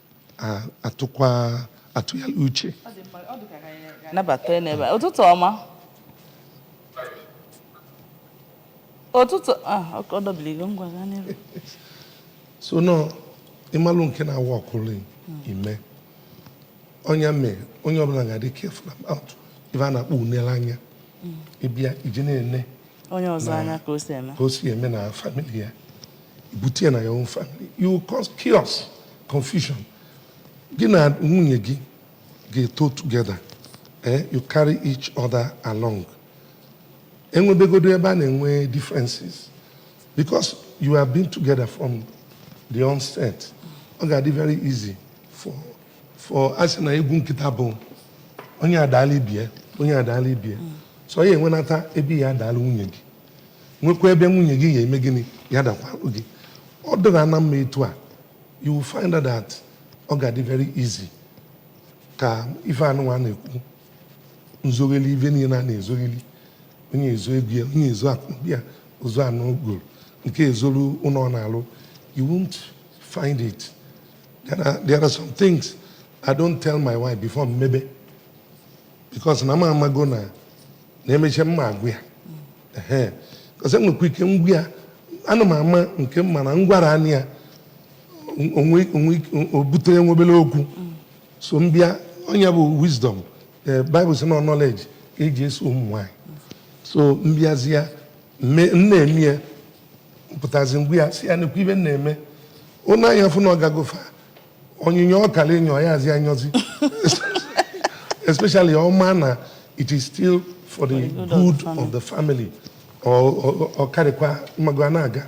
atụkwa atụ hello Uche nabata n'ebe ụtụtụ ọma ụtụtụ ah, ọ dọbiligo ngwa gaa n'iru so now ị malụ nke na-aworkụrụ ị mee ọ ya mee onye ọbụla ga-adị careful about ife a na-akpọ inele anya ị bịa je na-ene onye ọzọ anya ka o si eme na famili ya i bute ya na your own family you will cause chaos confusion gị na nwunye gị ga-eto together eh you carry each other along e nwebegodu ebe a na-enwe differences because you have been together from the onset ọ ga-adị very easy for for a sị na egwu nkịta bụ onye adaala ibe ya onye adaala ibe ya so ọ ya-enwenata ebe ị ya-adaala nwunye gị nwekwa ebe nwunye gị ga-eme gịnị ya adakwarụ gị ọ dịra na mma etu a you will find out that ọ ga-adị very easy ka ife anụnwa na-ekwu nzogheli ife niile a na-ezogheli onye ezo ego ya onye ezo akụbi ya o zoo anị ọ goro nke ezolu ụnọ ọ na-alụ you won't find it there are, there are some things i don't tell my wife before m mebe because na m amago na na emechaa m ma-agwa ya because enwekwa ike m gwa ya ana m ama nke m ma na m gwaranụ ya o bute nwa obere okwu so m bịa ọ nya bụ wisdom eh, Bible sị na knowledge ka e ji eso ụmụ nwanyị so m bịazịa m na-eme ya pụtazi m gwa ya sị ya nekwa ife m na-eme o nee anya fụ na ọ gago far onyinyo ọ kara enyo ya azị enyozi especially ọ ma na it is still for the good of the family ọ karịkwa ị mago a na-aga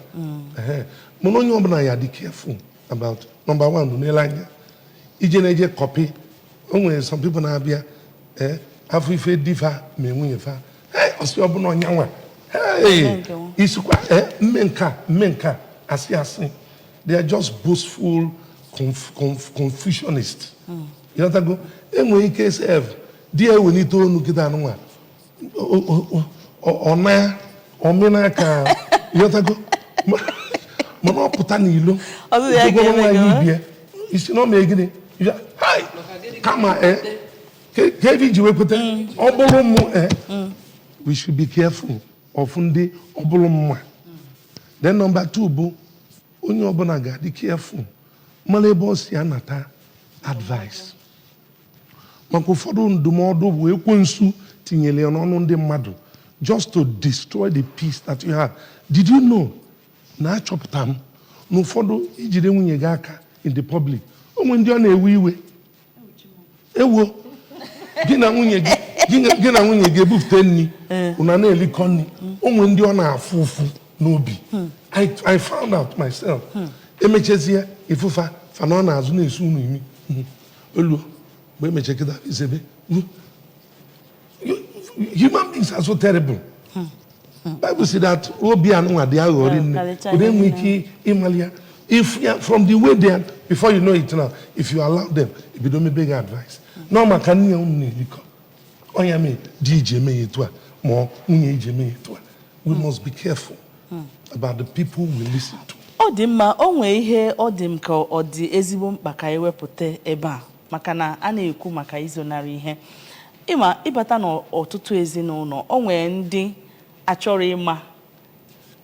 mana onye ọbụla ya-adị careful about number one bụ n'ele anya ije na-eje copy o nwere some people na-abịa ee afụ ife di fa mee nwunye fa ọ sị ọ bụlụ ọnyanwa ị sịkwa m mee nka m mee nka asị asị they are just boastful conf, conf, confusionist ị ghọtago enwere ike sef di ya ewelite onu kịta anụnwa ọna omena ka ị ghọtago Ma- mana ọ pụta n'ilo Ọzọ ya Ijegoro ga-eme nwaanyị gị, ibie ị sị na ọ mee gịnị Ya, "Hai, kama eh, ka ka ife i ji wee kweta ọ bụrụ mụ eh, we should be careful of ndị ọ bụrụ mụwa then number 2 bụ onye ọbụla ga-adị careful mara ebe ọ si anata advice maka ụfọdụ ndụmọdụ bụ ekwensu tinyere ya n'ọnụ ndị mmadụ just to destroy the peace that you have did you know na achọpụta m na ụfọdụ i jide nwunye gị aka in the public o nwe ndị ọ na-ewe iwe ewo gị na nwunye gị gị na nwunye gị ebupụta nri unu eh. na-elikọ nri o nwere ndị ọ na-afụ ụfụ n'obi hmm. I found out myself hmm. emechezie ị fụ fa fa anọ n'azụ na-esu unu imi hmm. o lue mgbe e meche kịta i sebe human beings are so terrible bible say that obi anụnwa dị aghọ rinne a dị enwe ike ịmali ya if ya from the way they are before you know it now if you allow them e bido mebe gị advice na ọ maka nni a unu na-erikọ ọ nya mee di i ji eme ya etu a ma ọ nwunye i ji eme ya etu a we must be careful about the people we listen to. ọ dị mma o nwee ihe ọ dị m ka ọ dị ezigbo mkpa ka anyị wepụta ebe a maka na a na-ekwu maka izonarị ihe ị ma ị bata n'ọtụtụ ezinụlọ o nwee ndị achọrọ ịma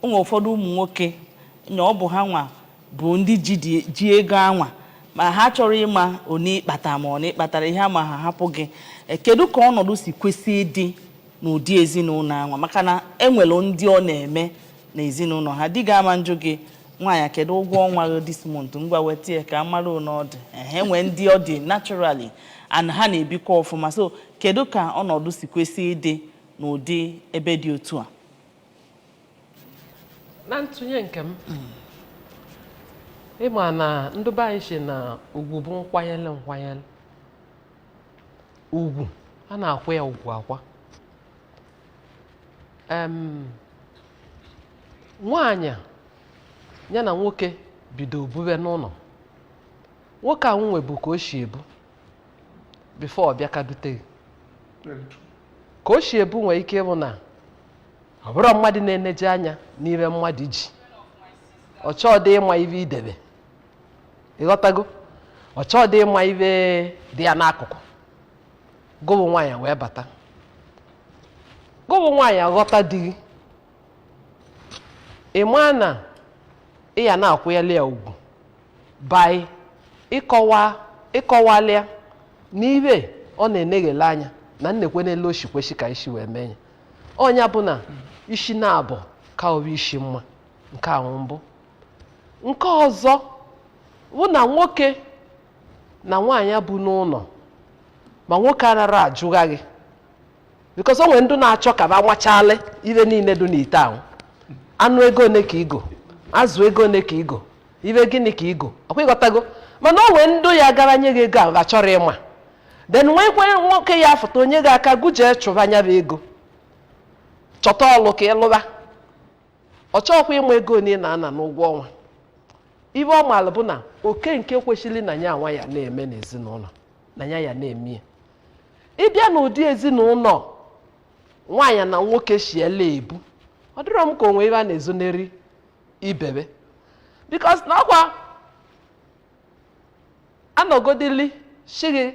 o nwee ụfọdụ ụmụ nwoke na ọ bụ ha nwa bụ ndị ji dị- ji ego anwa ma ha achọrọ ịma one ị kpata ma one ị kpatara ihe ama ha hapụ gị Eh, kedu ka ọnọdụ si kwesị ịdị n'ụdị ezinụlọ anwa maka na e nwere ndị ọ na-eme na ezinụlọ ha di gị ama njụ gị nwaanyị kedu ụgwọ ọnwa gị this month ngwa weta ya ka a mara one ọ dị ehe nwee ndị ọ dị naturally and ha na-ebikwa ọfụma so kedu ka ọnọdụ si kwesị ịdị n'ụdị ebe dị otu a na ntụnye nke m ị ma na ndị be anyị sị na ugwu bụ nkwanyere nkwanyere ugwu a na-akwa ya ugwu akwa em nwaanyị a, ya na nwoke bido bube n'ụlọ nwoke a nwe bụ ka o si ebu before ọ bịa ka dute gị ka o si ebu nwere ike ịbụ na ọ bụrọ mmadụ na-eneje anya n'ibe mmadụ ji ọ chọọ dị ịma ibe i debe ị ghọtago ọ chọọ dị ịma ibe dị ya n'akụkụ gụ bụ nwaanyị wee bata gụ bụ nwaanyị aghọta di gị ị maa na ị ya na-akwụyali ya ugwu by ịkọwa ịkọwalị ya n'ibe ọ na-eneghele anya na nekwe n'elu o shi kweshi ka i si wee mee ya ọ nya bụ na isi naabọ ka obu isi mma nke ahụ mbụ nke ọzọ bụ na nwoke na nwaanyị bu n'ụlọ ma nwoke anara ajụgha gị because o nwere ndị na-achọ ka ba nwachalị ibe niile dị n'ite ahụ anụ ego one ka i go azụ ego one ka i go ibe gịnị ka i go ọkwa ị ghọtago mana o nwee ndụ ya gara nye gị ego ahụ ha achọrọ ịma then nweekwe nwoke ya afụta o nye gị aka gụ jee chụba nya bụ ego chọta ọlụ ka ị lụba ọ chọrọkwa ịma ego one ị na-ana n'ụgwọ ọnwa ibe ọ maara bụ na oke nke kwesịrị na ya nwa ya na-eme n'ezinụlọ na ya ya na-eme ya ị bịa n'ụdị ezinụlọ nwaanyị na nwoke shiela ebu ọ dịrọ m ka o nwe ibe a na-ezoneri ibebe because na ọkwa a nọgodili sị gị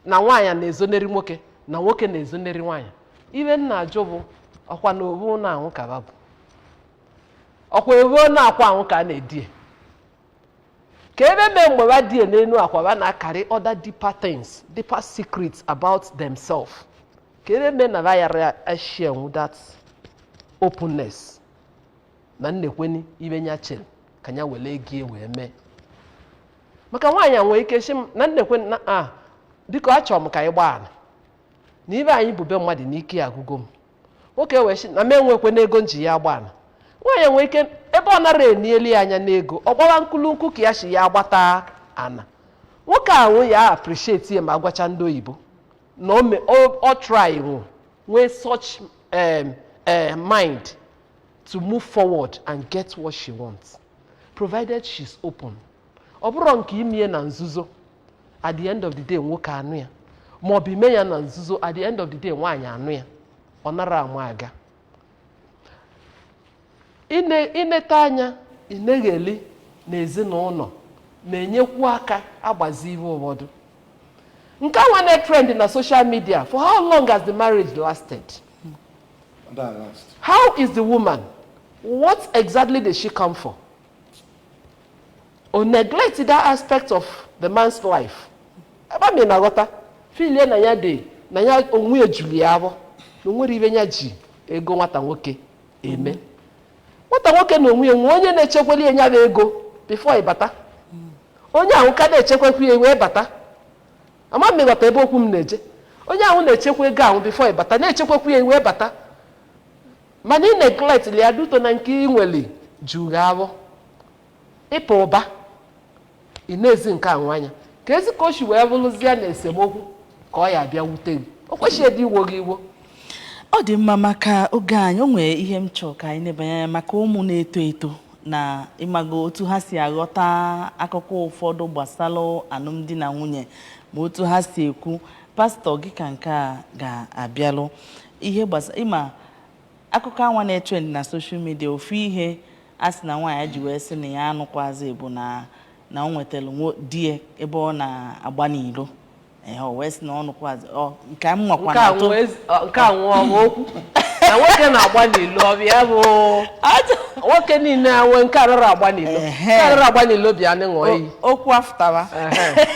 na nwaanyị na-ezoneri nwoke na nwoke na-ezoneri nwaanyị ibe m na-ajụ bụ ọkwa na obu ụnọ anwụ ka ba bu ọkwa ọ bụ n'akwa anwụ ka a na-edie kee ibe mee mgbe ba die n'elu akwa ba na-akarị other deeper things deeper secrets about themselves kee ibe mee na ba yara asharenwu that openness na nnekweni ibe nya chere ka nya were ego ya wee mee maka nwaanyị a nwee ike sị na nnekweni na biko achọrọ m ka anyị gbaa ana na ibe anyị bu be mmadụ na ike ya agụgo m nwoke wee sị na m enwekwe n'ego m ji ya agba ana nwaanyị nwee ike ebe ọ nara enieli ya anya n'ego ọ gbawa nkulunku ka ya si ya agbata ana nwoke ahụ ya appreciate ya ma gwacha ndị oyibo na ọ me- ọ- ọ try nwụ nwee such em, eh, mind to move forward and get what she wants provided she's open ọ bụrụ nke imie na nzuzo at the end of the day nwoke anụ ya ma ọ bụ ime ya na nzuzo at the end of the day nwaanyị anụ ya ọ nara ama aga ine inete anya inegheli na ezinụlọ na-enyekwu aka agbazi ihe ụfọdụ nke a nwa na-etrend na social media for how long has the marriage lasted That last. How is the woman? What exactly did she come for? Ọ neglect that aspect of the man's life. Ebe a mi na-aghọta feelie na ya dị na ya onwe ya juru ya afọ na o nwere ibe nya ji ego nwata nwoke eme. Nwata nwoke na onwe ya nwee onye na-echekweli ya bụ ego before ị bata. Onye ahụ ka na-echekwekwu ya wee bata. Ama m ị ghọta ebe okwu m na-eje. Onye ahụ na-echekwa ego ahụ before ị bata, na-echekwakwu ya i wee bata. Mana ị neglect li ya due to na nke ị nwere juru gị afọ. Ịpụ ụba, ị nezi nke ahụ anya. Keezi ka o si wee bụrụzie na esemokwu ka ọ ya abịa wute gị. O kwesịghị ịdị iwo gị iwo. ọ dị mma maka oge anyị o nwere ihe m chọrọ ka anyị nebanye anya maka ụmụ na-eto eto na ịmago otu ha si aghọta akụkọ ụfọdụ gbasara alụmdi na nwunye ma otu ha si ekwu pastor gị ka nke a ga-abịalụ ihe gbasa ịma akụkọ a nwa na-etrend na social media ofu ihe a sị na nwaanyị ji wee sị na ya anụkwazi bụ na na o nwetara nwo- di ya ebe ọ na-agba n'ilo Ee, o wee sị na ọ nụkwazi ọ nke a m nwakwa nke a na-atụ nwe ezi- ọ, nke a nwe ọwa okwu na nwoke na-agba n'ilo ọ bụ ya bụ Atụ- nwoke niile a nwe nke arara agba n'ilo Ehe. nke arara agba n'ilo bịa anyị ṅụọ iyi o- okwu afụtaba Ehe.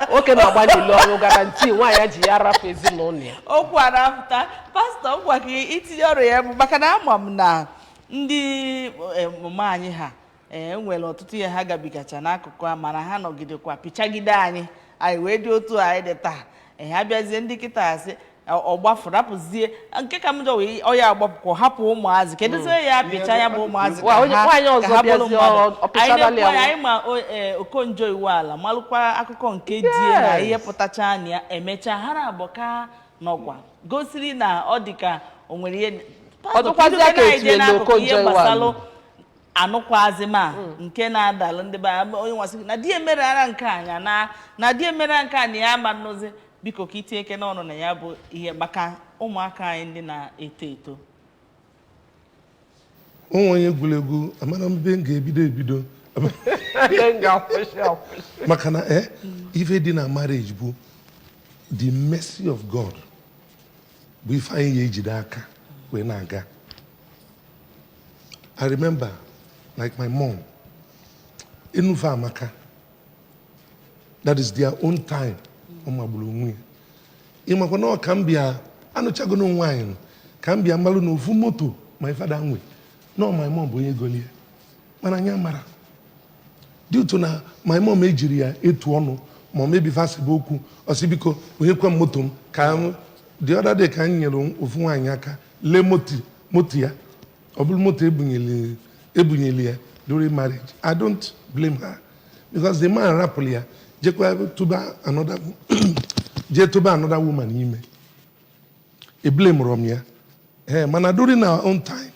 nwoke na-agba n'ilo ọrọ guarantee nwaanyị ya ji ya rapụ ezinụlọ ya okwu a na-apụta pastor ngwa gị itinye ọrụ ya bụ maka na ama m na ndị eh, mama anyị ha e nwere ọtụtụ ihe ha gabigacha n'akụkụ a mana ha nọgidekwa pịchagide anyị anyị wee dị otu anyị dị taa ee abịazie ndị kịta a sị ọ gbafuo rapụzie nke ka njọ wee ọya agbapụkwa hapụ ụmụazị kedụzie hmm. ya apịcha ya bụ ụmụazị ka ha bụrụ mmadụ anyị ma e, Okonjo-Iweala malụkwa akụkọ nke di e na ihe pụtacha anya ya emechaa ha naabọ ka nọkwa gosiri na ọ dị ka o nwere ihe gbasalụ anụkwazi ma hmm. nke na-adalụ ndị be onye nwa sị na di e mere ara nke anya na na di e mere nke a na ya ama nnụzi biko ka i tinyekene ọnụ na ya bụ ihe maka ụmụaka anyị ndị na-eto eto onwe onye egwuregwu amara m ebe m ga-ebido ebido maka na eh, ife dị na marriage bụ the mercy of God bụ ife anyị ya-ejide aka wee na-aga i remember like my mom enu fa amaka that is their own time ọ magburu onwe ya ị makwa na ọ ka m bịa anụchago nwaanyị nnọọ ka m bịa malụ na ofu moto my father nwe na ọ my mom bụ onye golie mana anyị amara Due to na my mom ejiri ya etu ọnụ ma maybe fa sebe okwu, ọ sị biko nyekwa m moto m ka m the other day ka m nyere ofu nwaanyị aka lee moto moto ya ọ bụrụ moto ebunyeli ebunyeli ya during marriage I don't blame her because the man rapụrụ ya jekwa tụba another jee tụba another woman ime eblamerọ m ya ee mana during our own time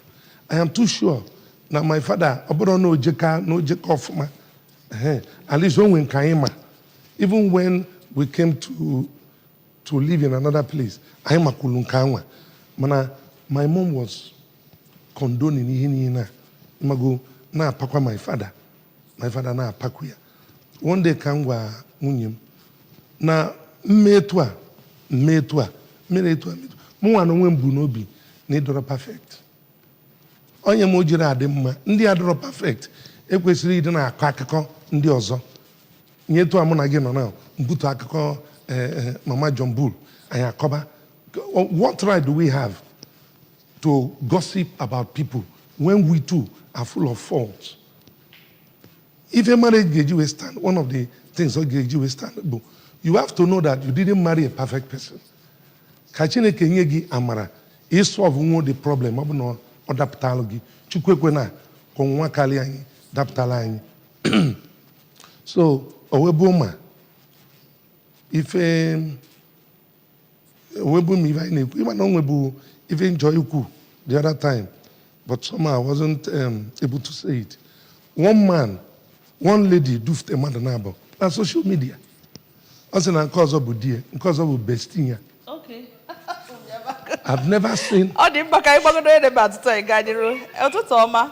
i am too sure na my father ọ bụrụ na o jeka na o jeka ọfụma ee at least o nwe nke anyị ma even when we came to to live in another place anyị makwulu nke anwa mana my mom was condoning ihe niile ị mago na-apakwa my father my father na-apakwu ya one day ka m gwa nwunye m na m me etu a m me etu a m mere etu a mụ nwa na onwe m bu n'obi na ị dọrọ perfect ọ ya me o jiri adị mma ndị adọrọ perfect ekwesịrị ịdị na-akọ akụkọ ndị ọzọ nye etu a mụ na gị nọ na m bute akụkọ eh, eh, mama John Bull anyị akọba what right do we have to gossip about people when we too are full of faults. Ife marriage ga-eji wee stand, one of the things ọ ga-eji wee stand bụ you have to know that you didn't marry a perfect person. Ka Chineke nye gị amara ịsọlvụnwu the problem ọ bụ na ọ dapụtalụ gị Chukwu ekwena ka ọnwụnwa karịa anyị dapụtalụ anyị so owebuoma ife onwebu m ife anyị na-ekwu ịma na onwebu ife m chọ ikwu the other time but somehow I wasn't um, able to say it one man one lady dufute mmadụ naabọ na social media ọ sị na nke ọzọ bụ di ya nke ọzọ bụ bestie ya I've never seen ọ dị mkpa ka anyị gbagodo ebe a tupu anyị gaa n'iru ụtụtụ ọma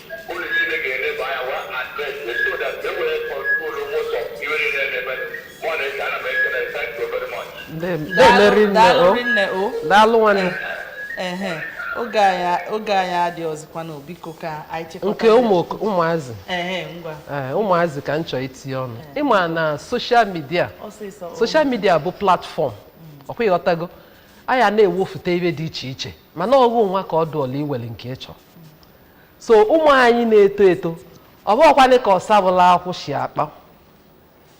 na-eme rinne o nne o daalụ nwanne ehe oge anyị oge anyị adị ọzọkwa na biko ka anyị chekwa nke ụmụ ụmụazị ehe ngwa ee ụmụazị ka m chọọ itinye ọnụ ịma na social media social media bụ platform ọkwa ị ghọtago a ya na-ewefute ibe dị iche iche mana ọ ghụ nwa ka ọ dụọla iwere nke ị chọrọ so ụmụ anyị na-eto eto ọ bụghịkwanị ka ọsabụla akwụ si akpa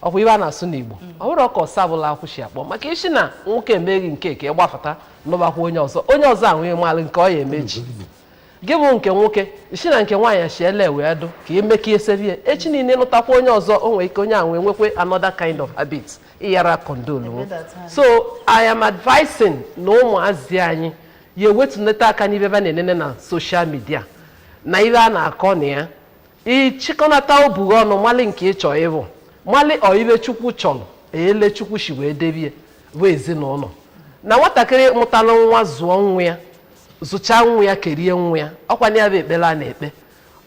ọkwa ibe a na-asụ n'Igbo ọ bụrọ ka ọsabụla akwụ si akpọ maka isi na nwoke eme ghị nke a ị gbafụta nụbakwa onye ọzọ onye ọzọ ahụ ị malụ nke ọ ya emechi gị bụ nke nwoke ị sị na nke nwaanyị si ele wee dụ ka emeka esebie echi niile lụtakwa onye ọzọ o nwere ike onye ahụ wee nwekwe another kind of habit ị yara condone so I am advising na ụmụazị anyị ya ewetunata aka n'ibe ba na-enene na social media na ibe a na-akọ na ya ị chịkọnata obu ghị ọnụ mali nke ị chọ ịbụ mali ibe Chukwu chọrọ ele Chukwu si wee debie bụ ezinụlọ na nwatakịrị mụtara nwa zụọ nwa ya zụchaa nwa ya kerie nwa ya ọkwa nya bụ ekpere a na-ekpe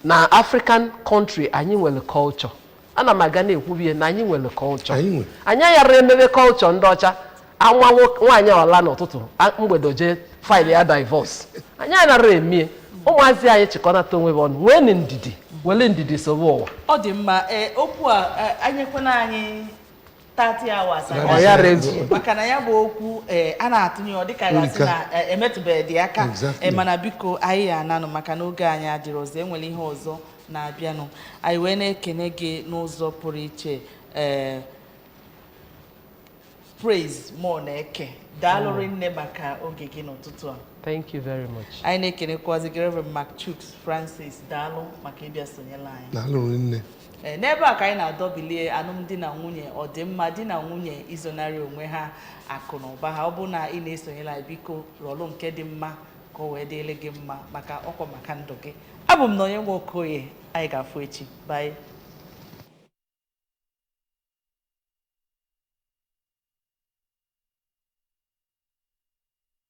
na African country anyị nwere culture ana m aga na-ekwubie na anyị nwere culture Anyị nwere. anyị yara emebe culture ndị ọcha a nụa nwo- nwaanyị ọla n'ụtụtụ a- mgbede jee file ya divorce anyị anara emie ụmụazị anyị chịkọnata onwe ha ọnụ nweenụ ndidi were ndidi sobe ụwa ọ dị mma ee okwu a e nyekwana anyị 30 hours That is it. Ọ yara ezu. maka na ya bụ okwu eh, a na-atụnye ọ dịka a ga-asị Erika. na eh, emetụbeghịdị aka Exactly. Eh, mana biko anyị ya ananụ maka na oge anyị adịrị ọzọ e nwere ihe ọzọ na-abịanụ anyị wee na-ekene gị n'ụzọ pụrụ iche eh, Praise Muonaeke daalụ rinne maka oge gị n'ụtụtụ a Thank you very much. anyị na-ekenekwazi gị Reverend Mark Chuks Francis daalụ maka ịbịa sonyela anyị Daalụ rinne. Ee, n'ebe a ka anyị na-adọbilie alụmdi na nwunye ọdịmma di na nwunye izonarị onwe ha akụ na ụba ha ọ bụ na ị na-esonyela anyị biko rọlụ nke dị mma ka o wee dịrị gị mma maka ọkwa maka ndụ gị abụ m Nonye Nwokoye anyị ga-afụ echi bye